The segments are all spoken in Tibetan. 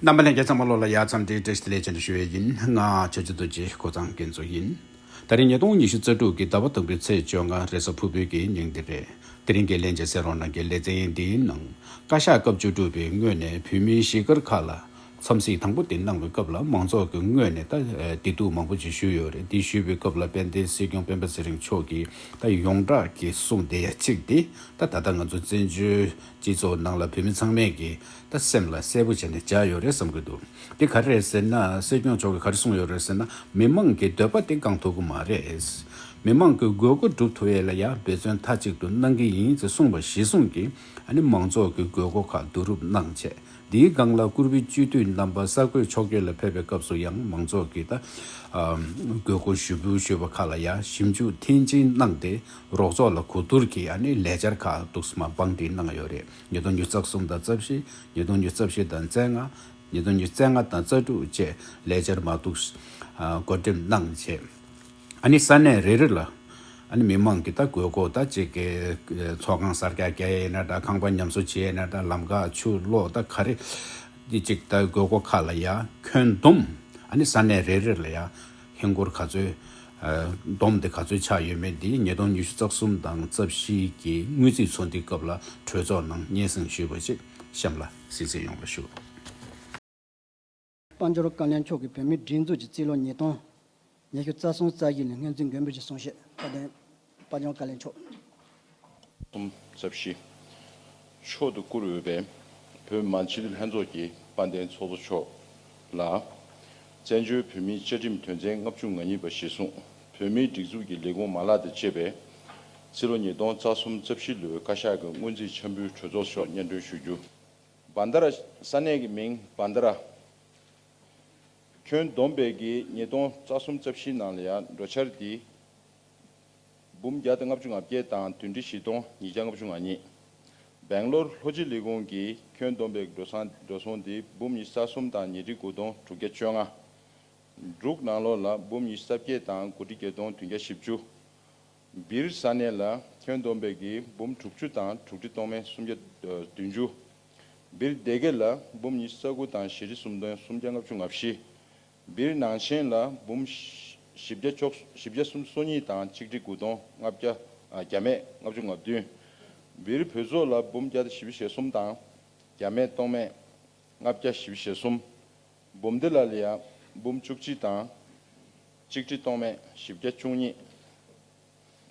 རྣམ་པ་ལན་བརྒྱ་ཙམ་མ་ལོག་ལ་ཡར་མཚམས་འདྲིའི་སྒྲས་ལས་ཅན་དུ་ཞུ་བས་ཡིན། ལྔ། ཆོས་རྗེ་རྡོ་རྗེའི་ཁོ་ཚང་གི་མཛོད་ཡིན། ད་རིང་ཉིས་སྟོང་ཉི་ཤུ་རྩ་དྲུག་གི་ཟླ་བ་དང་པོའི་ཚེས་བཅོ་ལྔ་རེས་གཟའ་ཕུར་བུ་གྱི་ཉིན་འདི་རེད། དེ་རིང་གི་ལན་བརྒྱ་ཟེར་རོ་ནང་གི་ལེ་ཚན་འདིའི་ནང། བཀའ་ཤག་སྐབས་བཅུ་དྲུག་པའི་སྔོན་ནས་བོད་མིའི་གཞིས་སྒར་ཁག་ལ། འཚམས་གཟིགས་དང་པོ་དེ་གནང་བའི་སྐབས་ལ་མང་ཚོགས་ཀྱི་ངོས་ནས་ད་བདེ་སྡུག་མང་པོ་ཅིག་ཞུས་ཡོད་རེད་འདི་ཞུས་པའི་སྐབས་ལ་དཔལ་ལྡན་སྲིད་སྐྱོང་སྤེན་པ་ཚེ་རིང་མཆོག་གིས་ད་ཡོངས་གྲགས་ཀྱི་གསུངས་བདེ་ཡ་གཅིག་དེ། ད་ད་ལྟ་ང་ཚོ་བཙན་བྱོལ་སྤྱི་ཚོགས་ནང་ལ་བོད་མི་ཚང་མས་ཀྱི། ད་སེམས་ལ་གསལ་པོ་བྱས་ནས་བཞག་ཡོད་རེད་བསམ་གྱི་འདུག་དེ་ག་རེད་ཟེར་ན་སྲིད་སྐྱོང་མཆོག་གིས་ག་རེ་གསུངས་ཡོད་རེད་ཟེར་ན་མི་མང་གི་འདོད་པ་དེ་བསྐང་ཐུབ་ཀྱི་མ་རེད། མི་མང་གི་དགོས་མཁོ་སྒྲུབ་ཐུབ་ཡས་ལ་ཡ་འབད་བརྩོན་མཐའ་གཅིག་ཏུ་གནང་གི་ཡིན་ཅེས་གསུངས་པ་གཞི་བཟུང་གིས་ཨ་ནི་མང་ཚོགས་ཀྱི་དགོས་མཁོ་ཁག་བསྡུ་རུབ་གནང་ཆེད་འདིའི་སྒང་ལ་བསྐུར་བུའི་བཅུད་བསྡུས་རྣམ་པ་གསར་འགོད་ཕྱོགས་བསྐྱོད་ལ་ཕེབས་པའི་སྐབས་སུ་ཡང་མང་ཚོགས་ཀྱི་ད་དགོས་མཁོ་ཞུ་འབུལ་ཞུས་པ་ཁག་ལ་ཡ་ཞིབ་འཇུག་མཐིལ་ཕྱིན་གནང་སྟེ་རོགས་ཚོགས་ལ་གོ་བསྡུར་གྱིས་ཨ་ནི་ལས་འཆར་ཁག་གཏུགས་མ་སྤང་བྲིས་གནང་ཡོད་རེད། ཉིས་སྟོང་ཉིས་རྩ་གསུམ་དང་རྩ་བཞི། ཉིས་སྟོང་ཉིས་རྩ་བཞི་དང་རྩ་ལྔ། ཉིས་སྟོང་ཉིས་རྩ་ལྔ་དང་རྩ་དྲུག་བཅས་ལས་འཆར་མ་བཙུགས། བགོ་འགྲེམས་གནང་རྗེས། ཨཱ་ས་གནས་རེ་རེ་ལ། མི་དམངས་ཀྱི་དགོས་མཁོ་དང་བཅས་ཀྱི་ཚོགས་ཁང་གསར་རྒྱག་བྱེད་ཡས་ན་དང་ཁང་པ་ཉམས་གསོ་བྱེད་ཡས་ན་ལམ་ཁ་ཆུ་གློག་དང་ག་རེ་ཅིག་དགོས་མཁོ་ཁག་ལ་ཡང་ཁྱོན་བསྡོམས། ཨཱ་ས་གནས་རེ་རེ་ལ་ཡང། ཧིན་སྒོར་ག་ཚོད། བསྡོམས་དེ་ག་ཚོད་ཆགས་ཡོད་མེད་འདི་ཉིས་སྟོང་ཉི་ཤུ་རྩ་གསུམ་དང་རྩ་བཞི་གི་དངུལ་རྩིས་ཚོགས་འདུའི་སྐབས་ལ་གྲོས་ཚོགས་ནང་སྙན་གསེང་ཞུས་པ་ཅིག་གཤམ་ལ་གཟིགས་བརྩི་ཡོང་བ་ཞུ། དཔའ་འབྱོར་བཀའ་ལན་མཆོག་གིས་བོད་མིའི་སྒྲིག་འཛུགས་ཀྱི་རྩིས་ལོ་ཉིས་སྟོང་ཉི་ཤུ་རྩ་གསུམ་རྩ་བཞི་ནི་སྔོན་རྩིས་མགོན་པོ་ཞེས་གསུངས་བཤད་བཀའ་དྲིན། པ་སྨྱོ་ཀ་ལས་མཆོག། གསུམ་རྩ་བཞི། མཆོག་ཏུ་བཀུར་འོས་པའི། བོད་མ་སྤྱི་འཐུས་ལྷན་ཚོགས་ཀྱི་དཔའ་ལྡན་ཚོགས་གཙོ་མཆོག་ལ། བཙན་བྱོལ་བོད་མིའི་བཅའ་ཁྲིམས་དོན་ཚན་ལྔ་བཅུ་ང་གཉིས་པ་གཞིར་བཟུང་བོད་མིའི་སྒྲིག་འཛུགས་ཀྱི་ལས་ཁུངས་མ་ལག་དང་བཅས་པའི། སྤྱི་ལོ་ཉིས་སྟོང་རྩ་གསུམ་རྩ་བཞི་ལོའི་བཀའ་ཤག་གི་སྔོན་རྩིས་འཆར་འབུལ་གྲོས་ཚོགས་ཐོག་སྙན་སྒྲོན་ཞུ་རྒྱུ། བཱན་དཱ་ར། ས་གནས་ཀྱི་མིང་བཱན་དཱ་ར། ཁྱོན་བསྡོམས་སྤེལ་གྱིས་ཉིས་སྟོང་རྩ་གསུམ་རྩ་བཞི་ནང་ལ་ཡང་འགྲོ་འཆར་འདི། འབུམ་བརྒྱ་དང་ལྔ་བཅུ་ང་བརྒྱད་དང་བདུན་ཁྲི་བཞི་སྟོང་ཉིས་བརྒྱ་ལྔ་བཅུ་ང་གཉིས། སྦེང་ལོར་ལྷོ་སྤྱི་ལི་ཀོང་གིས་ཁྱོན་བསྡོམས་པའི་འགྲོ་སོང་འགྲོ་སོང་དེ་འབུམ་ཉི་ས་གསུམ་དང་ཉིས་ཁྲི་དགུ་སྟོང་དྲུག་བརྒྱ་བཅོ་ལྔ། འབྲུག་ནང་ལོགས་ལ་འབུམ་ཉི་ས་བརྒྱད་དང་དགུ་ཁྲི་བརྒྱད་སྟོང་བདུན་བརྒྱ་བཞི་བཅུ། སྦིར་ས་གནས་ལ་ཁྱོན་བསྡོམས་པའི་གིས་འབུམ་དྲུག་ཅུ་དང་དྲུག་ཁྲི་སྟོང་མན་སུམ་བརྒྱ་བདུན་ཅུ། སྦིར་སྡེ་དགེ་ལ་འབུམ་ཉི་ས་དགུ་དང་ཞེ་ཁྲི་སུམ་སྟོན་སུམ་བརྒྱ་ལྔ་བཅུ་ང་བཞི། འདིར་ནང་ཆེན་ལ་འབུམ་བཞི་བརྒྱ་བཅོ་བཞི་བརྒྱ་གསུམ་སོ་གཉིས་དང་ཆིག་ཁྲི་དགུ་སྟོང་ལྔ་བརྒྱ་བརྒྱ་མེད་ལྔ་བཅུ་ང་བདུན། འདིར་བོད་ཚོགས་ལ་འབུམ་བརྒྱ་བཞི་བཞི་གསུམ་དང་བརྒྱ་མེད་སྟོང་མེད་ལྔ་བརྒྱ་བཞི་བཞི་གསུམ། འབུམ་སྡེ་ལ་ལ་ཡང་འབུམ་བཅུ་གཅིག་དང་ཆིག་ཁྲི་སྟོང་མེད་བཞི་བརྒྱ་བཅུ་གཉིས།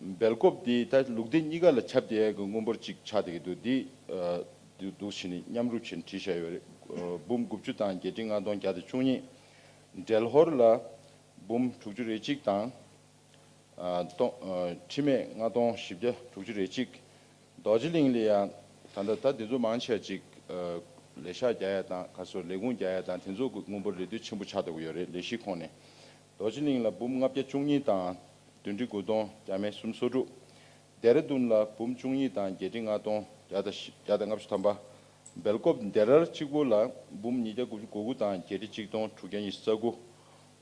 སྦེལ་སྐོབ་དེ་ད་ལུག་སྡེ་གཉིས་ཀ་ལ་ཁྱབ་སྟེ་གི་དངུལ་འབོར་གཅིག་ཆགས་སྡེ་གི་འདུག་འདི་འདུག་བཞི་ནི་མཉམ་རུབ་བྱེད་འཁྲི་བྱ་ཡོད་རེད་འབུམ་དགུ་བཅུ་དང་བརྒྱད་ཁྲི་ལྔ་སྟོང་བརྒྱ་དང་བཅུ་གཉིས་འབྲེལ་ཧོར་ལ་འབུམ་དྲུག་ཅུ་རེ་གཅིག་དང་སྟོང་ཁྲི་མེད་ལྔ་སྟོང་བཞི་བརྒྱ་དྲུག་ཅུ་རེ་གཅིག་རྡོ་རྗེ་གླིང་ལ་ཡང་ད་ལྟ་ད་དེ་ཚོ་མང་ཆེ་བ་གཅིག་ལས་ཤག་བརྒྱ་ཡ་དང་ག་སོ་ལས་ཁུངས་བརྒྱ་ཡ་དང་དེ་ཚོ་གི་དངུལ་འབོར་རེ་ལྡུད་ཆེན་པོ་ཆགས་སྡོ་གི་ཡོད་རེད་ལས་གཞི་ཁོངས་ནས། རྡོ་རྗེ་གླིང་ལ་འབུམ་ལྔ་བརྒྱ་བཅུ་གཉིས་དང་བདུན་ཁྲི་དགུ་སྟོང་བརྒྱ་མེད་གསུམ་སོ་དྲུག། ལྡེ་ར་ལྡུན་ལ་འབུམ་བཅུ་གཉིས་དང་བརྒྱད་ཁྲི་ལྔ་སྟོང་བརྒྱ་དང་བརྒྱ་དང་ལྔ་བཅུ་ཐམ་པ། སྦེལ་ཀོབ་ལྡེ་རར་གཅིག་པུ་ལ་འབུམ་ཉིས་བརྒྱ་དགུ་བཅུ་གོ་དགུ་དང་བརྒྱད་ཁྲི་གཅིག་སྟོང་དྲུག་བརྒྱ་ཉི་ཤུ་རྩ་དགུ།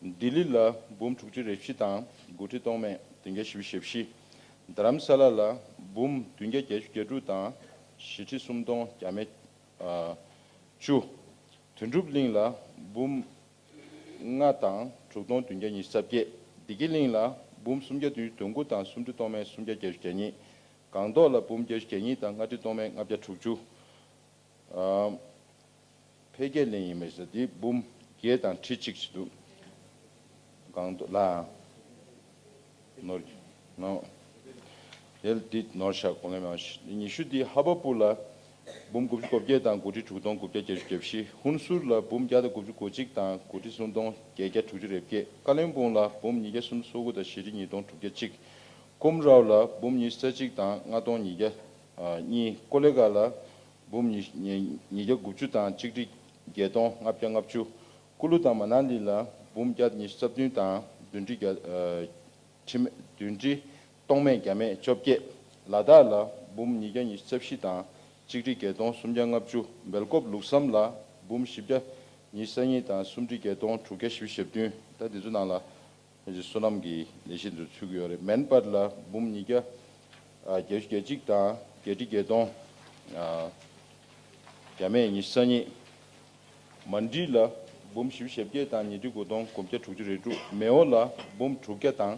ལྡི་ལི་ལ་འབུམ་དྲུག་ཅུ་རེ་བཞི་དང་དགུ་ཁྲི་སྟོང་མེད་བདུན་བརྒྱ་བཞི་བཅུ་ཞེ་བཞི། རྡ་རམ་ས་ལ་ལ་འབུམ་བདུན་བརྒྱ་བརྒྱད་ཅུ་གྱ་དྲུག་དང་བཞི་ཁྲི་སུམ་སྟོང་བརྒྱ་མེད་བཅུ། དོན་གྲུབ་གླིང་ལ་འབུམ་ལྔ་དང་དྲུག་སྟོང་བདུན་བརྒྱ་ཉི་ཤུ་རྩ་བརྒྱད། སྡེ་དགེ་གླིང་ལ་འབུམ་སུམ་བརྒྱ་བདུན་ཅུ་དོན་དགུ་དང་སུམ་ཁྲི་སྟོང་མན་སུམ་བརྒྱ་བརྒྱད་ཅུ་གྱ་གཉིས། སྒང་ཏོག་ལ་འབུམ་བརྒྱ་ཅུ་གྱ་གཉིས་དང་ལྔ་ཁྲི་སྟོང་མན་ལྔ་བརྒྱ་དྲུག་ཅུ། འཕེལ་རྒྱས་གླིང་ཡིན་མི་སྲིད་འདི་འབུམ་བརྒྱད་དང་ཁྲི་གཅིག་བྱེད་འདུག་སྒང་ཏོག་ལ། ནོར། ངའོ། ལྡི་ལྡི། ནོར་ཞག་གོང་ལས་མེད། ཉི་ཤུ་ལྡི་ཧ་པ་པུ་ལ། འབུམ་དགུ་བཅུ་གོ་བརྒྱད་དང་དགུ་ཁྲི་དྲུག་སྟོང་དགུ་བརྒྱ་བརྒྱད་ཅུ་བརྒྱད་བཞི། ཧུན་སུར་ལ་འབུམ་བརྒྱ་དང་དགུ་བཅུ་གོ་གཅིག་དང་དགུ་ཁྲི་གསུམ་སྟོང་བརྒྱད་བརྒྱ་དྲུག་ཅུ་རེ་བརྒྱད། ཀ་ལིང་པུང་ལ་འབུམ་ཉིས་བརྒྱ་གསུམ་སོ་དགུ་དང་བཞི་ཁྲི་གཉིས་སྟོང་དྲུག་བརྒྱ་གཅིག། ཀུམ་རའོ་ལ་འབུམ་ཉིས་བརྩེགས་གཅིག་དང་ལྔ་སྟོང་ཉིས་བརྒྱ་གཉིས། ཀོ་ལེ་གྷ་ལ་འབུམ་ཉིས་བརྒྱ་དགུ་བཅུ་དང་གཅིག་ཁྲི་བརྒྱད་སྟོང་ལྔ་བརྒྱ་ལྔ་བཅུ། སྐུ་ལུས་དང་མ་ནག་ལི་ལ་འབུམ་བརྒྱ་ཉི་ཤུ་རྩ་བདུན་དང་བདུན་ཁྲི་བརྒྱ། ཁྲི་མེད་བདུན་ཁྲི། སྟོང་མེད་བརྒྱ་མེད་བཅོ་བརྒྱད། ལ་དྭགས་ལ་འབུམ་ཉིས་བརྒྱ་ཉི་ཤུ་རྩ་བཞི་དང་གཅིག་ཁྲི་བརྒྱད་སྟོང་སུམ་བརྒྱ་ལྔ་བཅུ་སྦེལ་ཀོབ་ལུགས་བསམ་ལ་འབུམ་བཞི་བརྒྱ་ཉི་ཤུ་རྩ་གཉིས་དང་སུམ་ཁྲི་བརྒྱད་སྟོང་དྲུག་བརྒྱ་བཞི་བཅུ་ཞེ་བདུན་ཟླ་འདི་ཚོ་ནང་ལ། ཁྱེད་ཀྱི་བསོད་ནམས་ཀྱི་ལས་ཤིན་ཏུ་ཚུགས་ཡོད་རེད་མན་སྤར་ལ་འབུམ་ཉིས་བརྒྱ། བརྒྱད་བཅུ་བརྒྱད་གཅིག་དང་བརྒྱད་ཁྲི་བརྒྱད་སྟོང། བརྒྱ་མེད་ཉི་ཤུ་རྩ་གཉིས། མ་འབྲི་ལ་འབུམ་བཞི་བཞི་བརྒྱད་བརྒྱད་དང་ཉིས་ཁྲི་དགུ་སྟོང་དགུ་བརྒྱ་དྲུག་ཅུ་རེ་དྲུག་མེ་འོ་ལ་འབུམ་དྲུག་བརྒྱ་དང་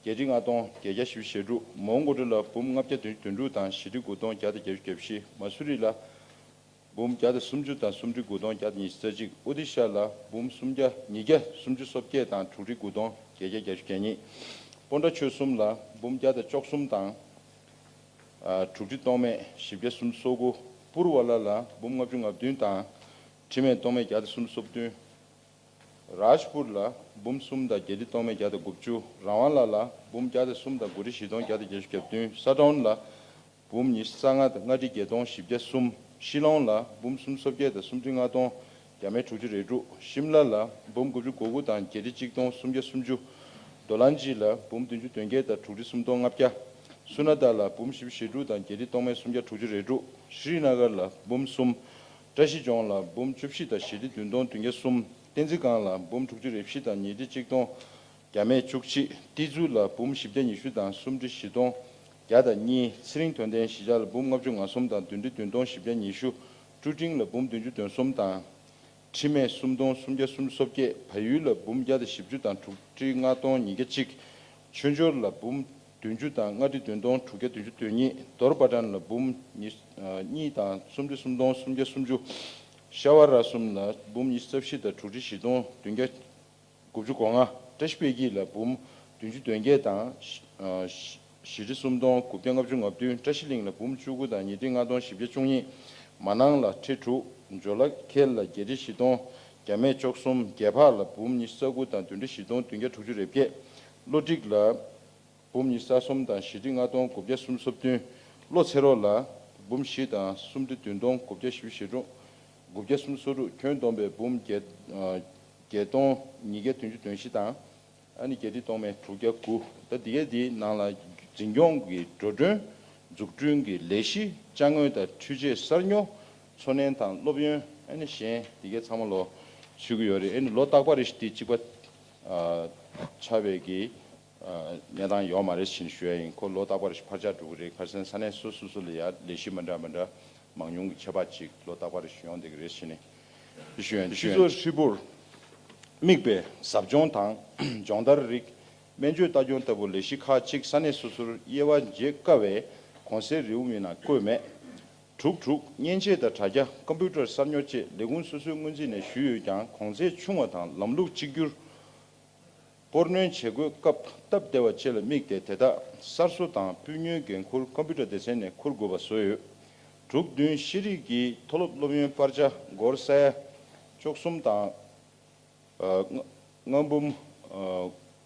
བརྒྱད་ཁྲི་ལྔ་སྟོང་བརྒྱད་བརྒྱ་བཞི་བཅུ་ཞེ་དྲུག་མོང་གོ་དྲུ་ལ་འབུམ་ལྔ་བརྒྱ་དོན་བཅུ་དོན་དྲུག་དང་བཞི་ཁྲི་དགུ་སྟོང་བརྒྱ་དང་བརྒྱད་བཅུ་བརྒྱད་བཞི་མ་སུ་རི་ལ། འབུམ་བརྒྱ་དང་སུམ་ཅུ་དང་སུམ་ཁྲི་དགུ་སྟོང་བརྒྱ་དང་ཉི་ཤུ་རྩ་གཅིག་ཨུ་དི་ཤ་ལ་འབུམ་སུམ་བརྒྱ་ཉིས་བརྒྱ་སུམ་ཅུ་སོ་བརྒྱད་དང་དྲུག་ཁྲི་དགུ་སྟོང་བརྒྱད་བརྒྱ་རྒྱ་ཤུ་གྱ་གཉིས། སྤོ་འདྲ་ཆོས་གསུམ་ལ་འབུམ་བརྒྱ་དང་བཅོ་གསུམ་དང། དྲུག་ཁྲི་སྟོང་མེད་བཞི་བརྒྱ་སུམ་སོ་དགུ། པུར་བ་ལ་ལ་འབུམ་ལྔ་བཅུ་ང་བདུན་དང། ཁྲི་མེད་སྟོང་མེད་བརྒྱ་དང་སུམ་སོ་བདུན། རཱཇ་པུར་ལ་འབུམ་གསུམ་དང་བརྒྱད་ཁྲི་སྟོང་མེད་བརྒྱ་དང་དགུ་བཅུ། རཱ་ཝང་ལ་ལ་འབུམ་བརྒྱ་དང་གསུམ་དང་དགུ་ཁྲི་བཞི་སྟོང་བརྒྱ་དང་བརྒྱད་ཅུ་གྱ་བདུན། སཱ་ཏྲོན་ལ་འབུམ་ཉི་ཤུ་རྩ་ལྔ་དང་ལྔ་ཁྲི་བརྒྱད་སྟོང་བཞི་བརྒྱ་གསུམ། ཤི་ལོང་ལ་འབུམ་གསུམ་སོ་བརྒྱད་དང་སུམ་ཁྲི་ལྔ་སྟོང་བརྒྱ་མེད་དྲུག་ཅུ་རེ་དྲུག། ཤིམ་ལ་ལ་འབུམ་དགུ་བཅུ་གོ་དགུ་དང་བརྒྱད་ཁྲི་གཅིག་སྟོང་སུམ་བརྒྱ་སུམ་ཅུ། མདོ་ལ་འཇི་ལ་འབུམ་བདུན་ཅུ་དོན་བརྒྱད་དང་དྲུག་ཁྲི་སུམ་སྟོང་ལྔ་བརྒྱ། སུ་ན་ད་ལ་འབུམ་བཞི་བཅུ་ཞེ་དྲུག་དང་བརྒྱད་ཁྲི་སྟོང་མེད་སུམ་བརྒྱ་དྲུག་ཅུ་རེ་དྲུག། ཤྲཱི་ན་གར་ལ་འབུམ་གསུམ། བཀྲ་ཤིས་ལྗོངས་ལ་འབུམ་བཅུ་བཞི་དང་ཞེ་ཁྲི་བདུན་སྟོང་བདུན་བརྒྱ་གསུམ། བསྟན་འཛིན་སྒང་ལ་འབུམ་དྲུག་ཅུ་རེ་བཞི་དང་ཉིས་ཁྲི་གཅིག་སྟོང་བརྒྱ་མེད་བཅུ་གཅིག། ཏི་ཛུ་ལ་འབུམ་བཞི་བརྒྱ་ཉི་ཤུ་དང་སུམ་ཁྲི་བཞི་སྟོང་བརྒྱ་དང་གཉིས། ཚེ་རིང་དོན་ལྡན་བཞི་ལྕགས་ལ་འབུམ་ལྔ་བཅུ་ང་གསུམ་དང་བདུན་ཁྲི་བདུན་སྟོང་བཞི་བརྒྱ་ཉི་ཤུ། སྤྲུལ་སྤྲིང་ལ་འབུམ་བདུན་ཅུ་དོན་གསུམ་དང། ཁྲི་སྨད་སུམ་སྟོང་སུམ་བརྒྱ་སུམ་ཅུ་སོ་བརྒྱད། བལ་ཡུལ་ལ་འབུམ་བརྒྱ་དང་བཞི་བཅུ་དང་དྲུག་ཁྲི་ལྔ་སྟོང་ཉིས་བརྒྱ་གཅིག། ཆོས་འབྱོར་ལ་འབུམ་བདུན་ཅུ་དང་ལྔ་ཁྲི་བདུན་སྟོང་དྲུག་བརྒྱ་བདུན་ཅུ་དོན་གཉིས། རྡོར་པ་བྲན་ལ་འབུམ་གཉིས་དང་སུམ་ཁྲི་སུམ་སྟོང་སུམ་བརྒྱ་སུམ་ཅུ། ཤ་བ་ར་གསུམ་ལ་འབུམ་གཉིས་རྩ་བཞི་དང་དྲུག་ཁྲི་བཞི་སྟོང་བདུན་བརྒྱ། དགུ་བཅུ་གོ་ལྔ། བཀྲ་ཤིས་དཔལ་སྐྱིད་ལ་འབུམ། བདུན་ཅུ་དོན་བརྒྱད་དང། བཞི་ཁྲི་སུམ་སྟོང་དགུ་བརྒྱ་ལྔ་བཅུ་ང་བདུན། བཀྲ་ཤིས་གླིང་ལ་འབུམ་བཅུ་དགུ་དང་ཉི་ཁྲི་ལྔ་སྟོང་བཞི་བརྒྱ་བཅུ་གཉིས། མ་ནང་ལ་ཁྲི་དྲུག། འཇོ་ལ་ཁེལ་ལ་བརྒྱད་ཁྲི་བཞི་སྟོང་བརྒྱ་མེད་ཅོག་གསུམ། རྒྱལ་འཕགས་ལ་འབུམ་ཉི་ས་དགུ་དང་བདུན་ཁྲི་བཞི་སྟོང་བདུན་བརྒྱ་དྲུག་ཅུ་རེ་བརྒྱད། ལོ་སྒྲིག་ལ། འབུམ་ཉི་ས་གསུམ་དང་བཞི་ཁྲི་ལྔ་སྟོང་དགུ་བརྒྱ་གསུམ་སོ་བདུན། བློ་ཚེ་རོགས་ལ། འབུམ་བཞི་དང་སུམ་ཁྲི་བདུན་སྟོང་དགུ་བརྒྱ་བཞི་བཞི་དྲུག། དགུ་བརྒྱ་གསུམ་སོ་དྲུག་ཁྱོན་བསྡོམས་པས་འབུམ་བརྒྱད་སྟོང་ཉིས་བརྒྱ་དོན་བཅུ་དོན་བཞི་དང། ཨ་ནི་བརྒྱད་ཁྲི་སྟོང་མན་དྲུག་བརྒྱ་དགུ། ད་ལྟ་གལ་དེའི་ནང་ལ་འཛིན་སྐྱོང་གི་འགྲོ་གྲོན། འཛུགས་སྐྲུན་གྱི་ལས་གཞི་དཔྱ་དངུལ་དང་འཕྲུལ་ཆས་གསར་ཉོ། འཚོ་གནས་དང་སློབ་ཡོན་ཨ་ནི་གཞན་དེ་གའི་ཚང་མ་ལོ། ཚུད་ཀྱི་ཡོད་རེད་ཨ་ནི་ལོ་རྟག་པར་རེ་ཞིག་དེ་གཅིག་པ། ཆ་བེད་ཀྱིས་གནས་སྟངས་ཡོག་མ་རེད་ཕྱིན་ཞུ་ཡ་ཡིན་ཁོ་ལོ་རྟག་པར་ཕར་ཆག་འགྲོ་གི་རེད་ཁར་སན་ས་གནས་སོ་སོ་སོ་ལ་ཡ་ལས་གཞི་མ་འདྲ་མ་འདྲ་མང་ཉུང་གི་ཁྱད་པ་ཅིག་ལོ་རྟག་པར་ཞུ་ཡོང་བསྡད་གི་རེད་ཕྱིན་ཞུ་ཡ་སྤྱི་ཚོགས་ཧྲིལ་པོར་དམིགས་པའི་ཟབ་སྦྱོང་དང་སྦྱོང་བརྡར་རིགས་སྨན་བཅོས་ལྟ་སྐྱོང་ལྟ་བུ་ལས་གཞི་ཁག་ཅིག་ས་གནས་སོ་སོར་དབྱེ་བ་འབྱེད་དཀའ་བས་གོང་གསལ་རེའུ་མིག་ན་བཀོད་མེད། དྲུག་དྲུག་མཉེན་ཆས་དང་དྲ་རྒྱ་ཀམ་པུའུ་ཏར་གསར་ཉོ་བཅས་ལས་ཁུངས་སོ་སོའི་སྔོན་རྩིས་ནས་ཞུས་ཡོད་ཀྱང་གོང་ཚད་ཆུང་བ་དང་ལམ་ལུགས་གཅིག་གྱུར་སྤོར་སྣོན་བྱེད་སྒོའི་སྐབས་སྟབས་བདེ་བ་བཅས་ལ་དམིགས་ཏེ་དེ་དག་གསར་བཟོ་དང་སྤུས་ཉུལ་འགན་འཁུར་ཀོམ་པིའུ་ཏར་སྡེ་ཚན་ནས་འཁུར་དགོས་པ་བཟོས་ཡོད། དྲུག་བདུན་ཤེས་རིག་གི་མཐོ་སློབ་སློབ་ཡོན་སྤར་ཆ་སྒོར་གསལ། བཅུ་གསུམ་དང། ལྔ། འབུམ།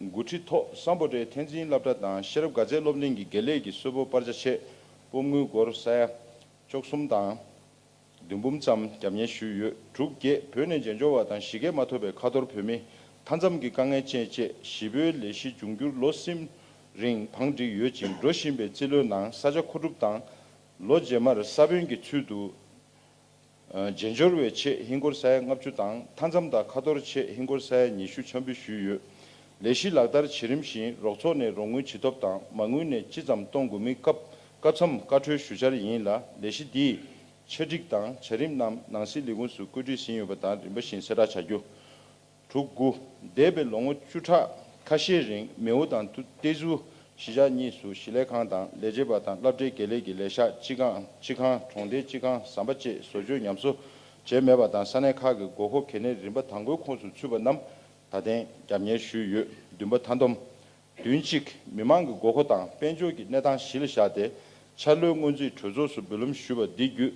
དགུ་ཁྲི་ཐོག་བསམ་པོ་ཏའི་ཐན་ཙིན་བསླབ་གྲྭ་དང་ཤེས་རབ་དགའ་ཚལ་སློབ་གླིང་གི་དགེ་ལས་ཀྱི་གསོལ་ཕོགས་སྤར་ཆ་ཆེད་དཔོག་དངུལ་སྒོར་གསལ། བཅུ་གསུམ་དང། བདུན་འབུམ་ཙམ་རྒྱབ་གཉེར་ཞུས་ཡོད་འབྲུག་རྒྱས་བོད་ནས་མཇལ་འབྱོར་བ་དང་གཞིས་ཀས་མ་ཐོབ་པའི་ཁ་ཐོར་བོད་མི་མཐའ་མཚམས་ཀྱི་དཀའ་ངལ་ཅན་བཅས་བཞི་བོའི་ལས་གཞི་འབྱུང་འགྱུར་ལོ་གསུམ་རིང་བང་བསྒྲིགས་ཡོད་ཅིང་འགྲོ་བཞིན་པའི་རྩིས་ལོའི་ནང་ས་ཆ་མཁོ་སྒྲུབ་དང། ལོ་རྗེས་མར་ས་བོན་གྱི་ཚུལ་དུ་མཇལ་འབྱོར་བའི་ཆེད་ཧིན་སྒོར་ས་ཡ་ལྔ་བཅུ་དང་མཐའ་མཚམས་དང་ཁ་ཐོར་ཆེད་ཧིན་སྒོར་ས་ཡ་ཉི་ཤུ་འཆམ་འབུལ་ཞུས་ཡོད། ལས་གཞི་ལག་བསྟར་བྱེད་རིམ་བཞིན་རོགས་ཚོགས་ནས་རོགས་དངུལ་ཇི་ཐོབ་དང་མ་དངུལ་ནས་ཅི་ཙམ་གཏོང་དགོས་མིན་སྐབས་བཀའ་འཚམས་བཀའ་འཁྲོལ་ཞུ་འཆར་ཡིན་ལ་ལས་གཞི་འདིས་ཆ་སྒྲིག་དང་བྱ་རིམ་རྣམས་ནང་སྲིད་ལས་ཁུངས་སུ་བཀོད་སྒྲིག་ཟིན་ཡོད་པ་དང་རིམ་པ་བཞིན་གསལ་བསྒྲགས་བྱ་རྒྱུ། དྲུག་དགུ། འདས་པའི་ལོ་ངོ་བཅུ་ཕྲག་ཁ་ཤས་རིང་མེའུ་དང་ཏེ་ཙུའུ་གཞིས་ཆགས་གཉིས་སུ་གཞིས་ལས་ཁང་དང་ལས་བྱེད་པ་དང་བསླབ་གྲྭའི་དགེ་ལས་ཀྱི་ལས་ཤག་སྤྱི་ཁང་སྤྱི་ཁང་གྲོང་སྡེའི་སྤྱི་ཁང་ཟམ་པ་བཅས་བཟོ་བཅོས་ཉམས་གསོ་བྱས་མེད་པ་དང་ས་གནས་ཁག་གི་དགོས་མཁོ་གལ་གནད་རིམ་པ་དང་པོའི་ཁོངས་སུ་ཚུད་པ་རྣམས་ད་ཐེངས་རྒྱབ་གཉེར་ཞུས་ཡོད་བདུན་པ་མཐའ་འདོམས་བདུན་གཅིག་མི་དམངས་ཀྱི་དགོས་མཁོ་དང་དཔལ་འབྱོར་གྱི་གནས་སྟངས་གཞི་ལ་བཞག་སྟེ་འཆར་ལོའི་སྔོན་རྩིས་གྲོས་ཚོགས་སུ་འབུལ་ལམ་ཞུས་པ་འདི་བརྒྱུད་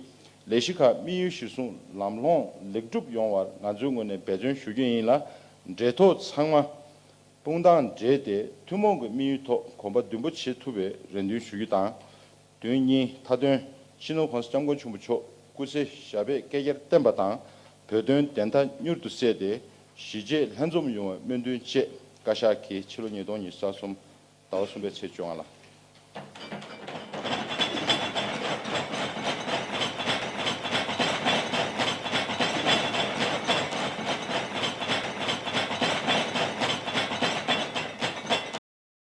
ལས་གཞི་ཁག་དམིགས་ཡུལ་གཞིར་བཟུང་ལམ་ལྷོང་ལེགས་འགྲུབ་ཡོང་བར་ང་ཚོའི་ངོས་ནས་འབད་བརྩོན་ཞུ་རྒྱུ་ཡིན་ལ་འབྲེལ་ཐོགས་ཚང་མ་དཔུང་རྡང་སྦྲེལ་ཏེ་ཐུན་མོང་གི་དམིགས་ཡུལ་ཐོག་གོམ་པ་མདུན་སྤོ་བྱེད་ཐུབ་པའི་རེ་འདུན་ཞུ་རྒྱུ་དང། དོན་གཉིས་མཐའ་དོན་ཕྱི་ནང་གོང་ས་སྐྱབས་མགོན་ཆེན་པོ་མཆོག་སྐུ་ཚེ་ཞབས་པད་བསྐལ་བརྒྱར་བརྟན་པ་དང་བོད་དོན་བདེན་མཐའ་མྱུར་དུ་གསལ་ཏེ་གཞིས་བྱེས་ལྷན་འཛོམས་ཡོང་བའི་སྨོན་འདུན་བཅས་བཀའ་ཤག་གིས་ཕྱི་ལོ་ཉིས་སྟོང་ཉིས་བརྒྱ་གསུམ་ཟླ་བ་གསུམ་པའི་ཚེས་བཅོ་ལྔ་ལ།